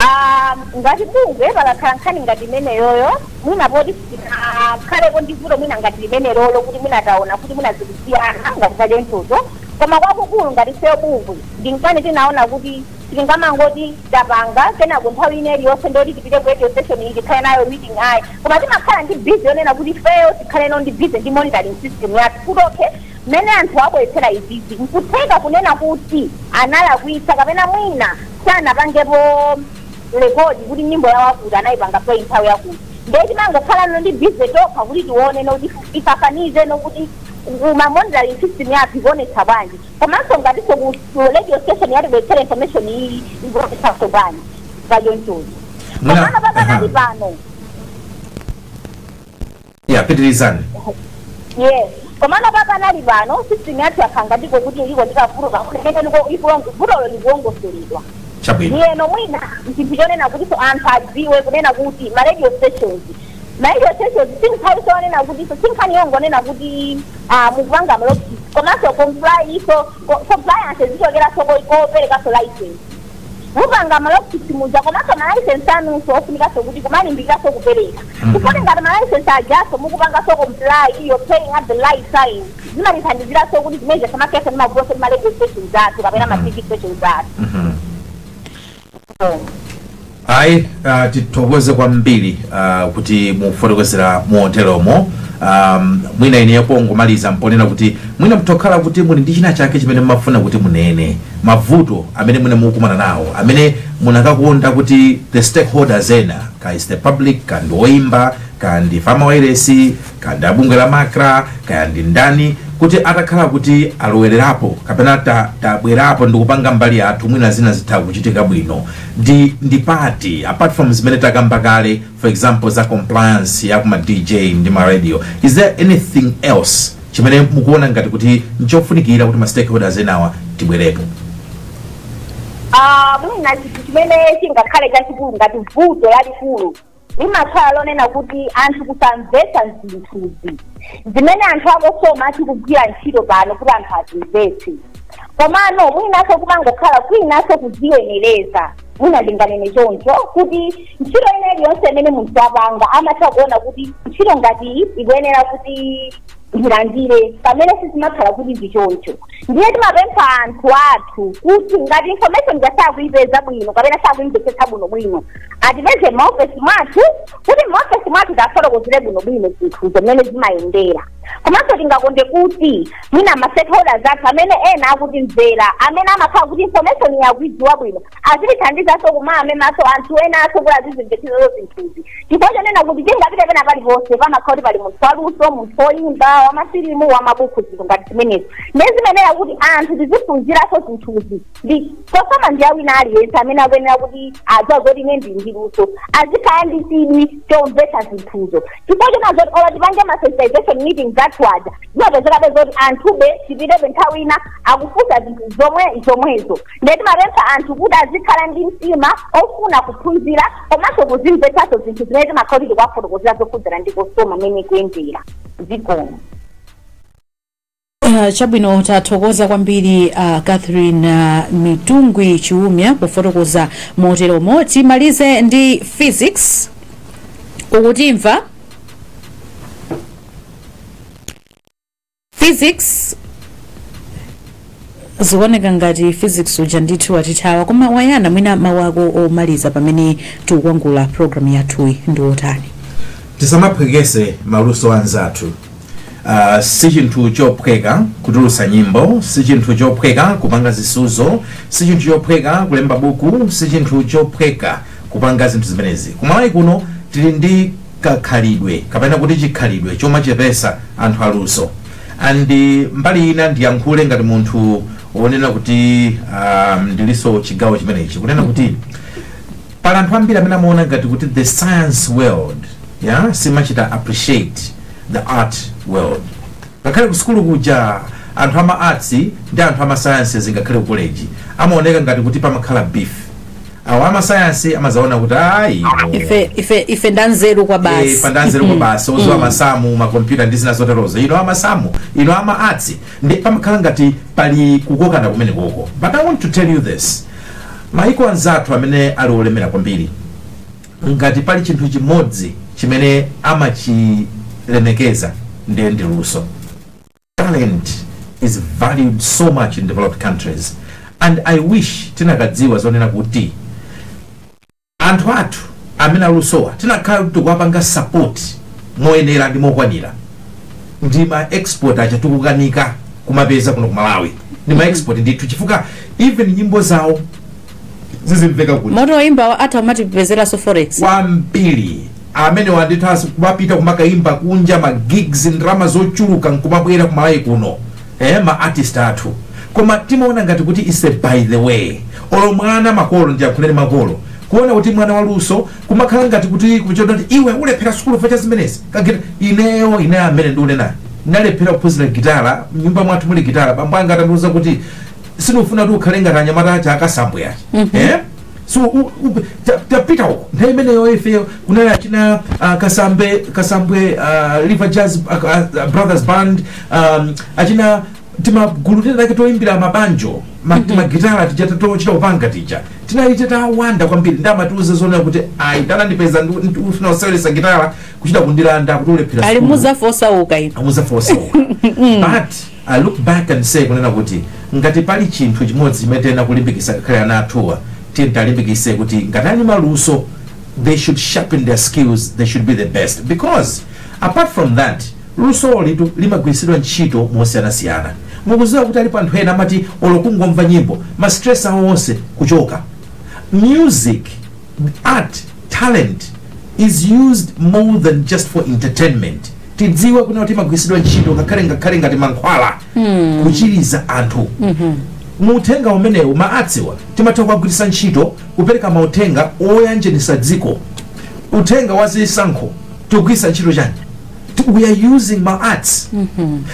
Ah, ngati bungwe pakakhala nkhani ngati imeneyoyo mwina poti sitinakhaleko ndi vuto mwina ngati limenelolo kuti mwina taona kuti mwina zikusiyana ngati zadentozo koma kwakukulu ngati ifeyo bungwe ndi nkhani tinaona kuti sitingamangoti tapanga kenako nthawi ina iliyonse ndoti tipite ku radio station iyi tikhale nayo meeting ayi koma timakhala ndi busy yonena kuti ifeyo tikhale no ndi busy ndi monitoring system yathu kuti okay mmene anthu abweretsera izizi nkutheka kunena kuti analakwitsa kapena mwina sanapangepo rekodi kuti nyimbo yawo akuti anayipanga play nthawi yakuti nde timangokhala no ndi busy tokha kuti tione nokuti tifananize nokuti ma monitoring system yathu ikuonetsa bwanji komanso ngatinso ku ku radio station yatibweretsera information iyi ikuonetsanso bwanji pachonchozi Muna- komano pakanali aha. pano ya pitirizani yes komano pakanali pano system yathu yakhanga ndiko kuti iko ndi kavuto kumene ndiko ikulongo vutolo likulongosoledwa chabwino ndiyeno mwina chinthu chonena kutinso anthu adziwe kunena kuti ma radio stations naye chonsechozi si nthawi yonena kutinso si nkhani yongonena kuti ah, mukupanga malogisi komanso complynso co- compliance imachokeranso ko- koperekanso license mupanga malogisi muja komanso malaisensi anunso ofunikanso kuti kumalimbikiranso kupereka chifukwa ngati malaisensi ajaso mukupangaso comply iyo paying at the right time zimatithandiziraso kuti zimene tisamakhale ndi mavutoso ndi ma radio stations athu kapena ma tv stations athu ayi uh, tithokoze kwambiri uh, kuti mufotokozera moteromo um, mwina ine apo ngomaliza mponena kuti mwina mtokhala kuti muli ndi china chake chimene mumafuna kuti munene mavuto amene mwina mukumana nawo amene munakakonda kuti the stakeholders ena ka is the public ka ndi oyimba ka ndi a mawairesi kaya ndi abungwe la macra kaya ndi ndani kuti atakhala kuti alowererapo kapena ta- tabwerapo ndi kupanga mbali yathu mwina zina zitha kuchitika bwino ndi ndi pati apart from zimene takamba kale for example za compliance ya kuma dj ndi ma radio is there anything else chimene mukuona ngati kuti nchofunikira kuti ma stakeholders enawa tibwerepo Ah, mwina chinthu chimene chingakhale chachikulu ngati vuto lalikulu limakhala lonena kuti anthu kusamvetsa zinthuzi zimene anthu a cosoma tikugwira ntchito pano kuti anthu azimvetse komano mwinaso kumangokhala kwinaso kuziyenereza mwina ndinganene choncho kuti ntchito ina iliyonse imene munthu wapanga amatha kuona kuti ntchito ngati iyi ikuyenera kuti ndilandire pamene sizimakhala kuti ndi choncho ndiye timapempha anthu athu kuti ngati information nga sakuyipeza bwino kapena sakuyimvetsetsa bwino bwino atipeze maofesi mwathu kuti maofesi mwathu tiwafotokozere bwinobwino zinthuzi mmene zimayendera komanso tingakonde kuti mwina mastakeholders athu amene ena akutimvera amene amakhala kuti information akuidziwa bwino azitithandizanso kumamemaso anthu enanso kuti azizimvetsetsanso zinthuzi chifukwa chonena kuti tingapite pena paliponse pamakhala kuti pali munthu waluso munthu woyimba wamafilimu wamabuku zinthu ngati zimenezo ndiye zimayenera kuti anthu tiziphunziranso zinthuzi ndi cosoma ndi awina aliyense amene akuyenera kuti adziwa zoti ine ndili ndi luso azikhala ndi chidwi chomvetsa zinthuzo chifukwa chonena zoti olo tipange ma sensitization meetings athu aja zimapezekabe zoti anthube tipitebe nthawi ina akufunsa zinthu zomwe zomwezo ndiye timapempha anthu kuti azikhala ndi mtima ofuna kuphunzira komanso kuzimvetsanso zinthu zimene timakhala kuti tikuwafotokozera zokhudzana ndi cosoma mmene ikuyendera zikomo Ah, chabwino tathokoza kwambiri ah, catherine ah, mitungwi chiumia pofotokoza moteromo timalize ndi phyzix ukutimva phyzix zikuoneka ngati phyzix uja ndithu watithawa koma wayana mwina mawu ako omaliza pamene tikukwangula programu yathuyi ndi otani tisamaphwekese maluso anzathu Uh, si chinthu chophweka kutulutsa nyimbo si chinthu chophweka kupanga zisuzo si chinthu chophweka kulemba buku si chinthu chophweka kupanga zinthu zimenezi ku Malawi kuno tili ndi kakhalidwe kapena kuti chikhalidwe chomachepesa anthu aluso and mbali ina ndiyankhule ngati munthu wonena kuti um, ndilinso chigawo chimenechi kunena kuti Pali anthu ambiri amene amaona ngati kuti the science world simachita appreciate the art world. Ngakhale ku sukulu kuja anthu ama arts ndi anthu ama sciences ngakhale ku college amaoneka ngati kuti pamakhala beef. Awa ama science amazaona kuti ayi no. ife ife ife ndanzeru kwa Eh, basi pandanzeru kwa basi oza masamu ma computer ndi zina zoterozo inu amasamu inu ama arts Nde pamakhala ngati pali kukokana kumeneko koma but I want to tell you this maiko anzathu amene ali olemera kwambiri ngati pali chinthu chimodzi chimene amachilemekeza ndiye ndi luso talent is valued so much in developed countries and i wish tinakadziwa zonena kuti Anthu athu amene alusowa tinakhala kuti tikuwapanga support moyenera ndi mokwanira ndi ma export aja tikukanika kumapeza kuno ku Malawi ndi ma export ndithu chifukwa even nyimbo zawo zizimveka kuti moti oyimbawa atha kumatipezeranso forex wambiri amenewa ndithanso kumapita kumakayimba kunja ma gigs ndrama zochuluka nkumabwera ku Malawi kuno ee ma artist athu koma timaona ngati kuti is a by the way olo mwana makolo ndiyankhuleni makolo kuona kuti mwana waluso kumakhala ngati kuti kumuona kuti iwe ulephera sukulu chifukwa cha zimenezi kagita ineyo ine amene ndiunenayo ndinalephera kuphunzira gitala mnyumba mwathu muli gitala bambo anga atandiuza kuti sindikufuna kuti ukhale ngati anyamata aja akasambwe aja eh so u- u- ta- tapita uko nthawi imeneyo ife kunali achina ah, kasambe kasambwe ah, river jazz ah, ah, brothers band um, achina timagulu tina take toimbira mabanjo ma- timagitara tija tochita kupanga tija tinali titawanda kwambiri nde amatiuza zonena kuti ayi atandipeza ndifuna kuseweresa gitara kuchita kundilanda kuti ulephera ali sukulu. muzafa osauka inu muzafa osauka but I look back and say kunena kuti ngati pali chinthu chimodzi chimene tiyenera kulimbikisa ngakhale ana athuwa tiyeni talimbikise kuti ngati ali ndi maluso they should sharpen their skills they should be the best because apart from that lusolitu limagwiritsidwa ntchito mosiyanasiyana mukuziwa kuti alipo anthu ena amati olo kungomva nyimbo ma stress awo onse kuchoka music art talent is used more than just for entertainment tidziwe kunena kuti imagwiritsidwa ntchito ngakhale ngakhale ngati mankhwala kuchiriza anthu mu uthenga umenewu ma arts-wa timatha kuwagwiritsa ntchito kupereka mauthenga oyanjanitsa dziko uthenga wa zisankho tikugwiritsa ntchito chani Ti- we are using ma arts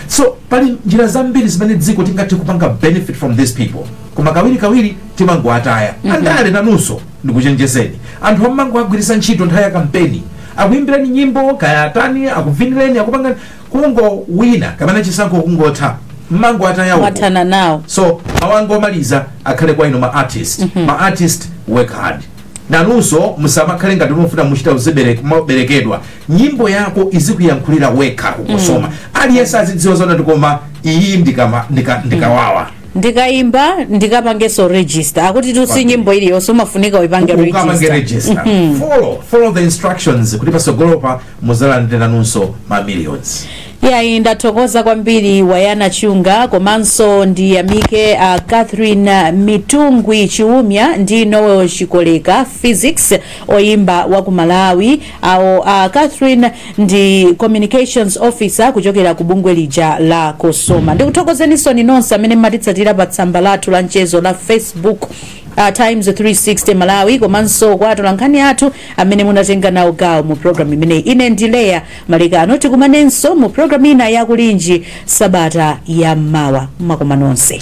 so pali njira zambiri zimene dziko tingathe kupanga benefit from these people koma kawirikawiri timangowataya andale nanunso ndikuchenjezeni anthu awa mmangowagwiritsa ntchito nthawi ya kampeni akuyimbireni nyimbo kaya atani akuvinireni akupangireni kungowina kapena chisankho kungotha mmangowataya uko mwathana nawo so mawu anga omaliza akhale kwa inu ma artist ma artist work hard nanunso musamakhale ngati mufuna muchita uzibere- maberekedwa nyimbo yako izikuyankhulira yokha ku cosoma aliyense azidziwa zonena kuti koma iyi ndikama- ndika- ndikawawa ndikaimba ndikapangenso register chifukwatu si nyimbo iliyonse umafunika uipange ukapange register register follow follow the instructions kuti patsogolopa muzalandire nanunso ma millions yayi ndathokoza kwambiri wayana chunga komanso ndiyamike a catherine mitungwi chiumya ndi noel chikoleka phyzix oyimba wa ku malawi awo a catherine ndi communications officer kuchokera ku bungwe lija la cosoma ndikuthokozeninsoni nonse amene mmatitsatira pa tsamba lathu la mchezo la facebook uh, times 360 malawi komanso kwa atolankhani athu amene munatenga nawo gawo mu programu imeneyi ine ndi leya malekano tikumanenso mu programu ina ya kulinji sabata ya mmawa mumakoma nonse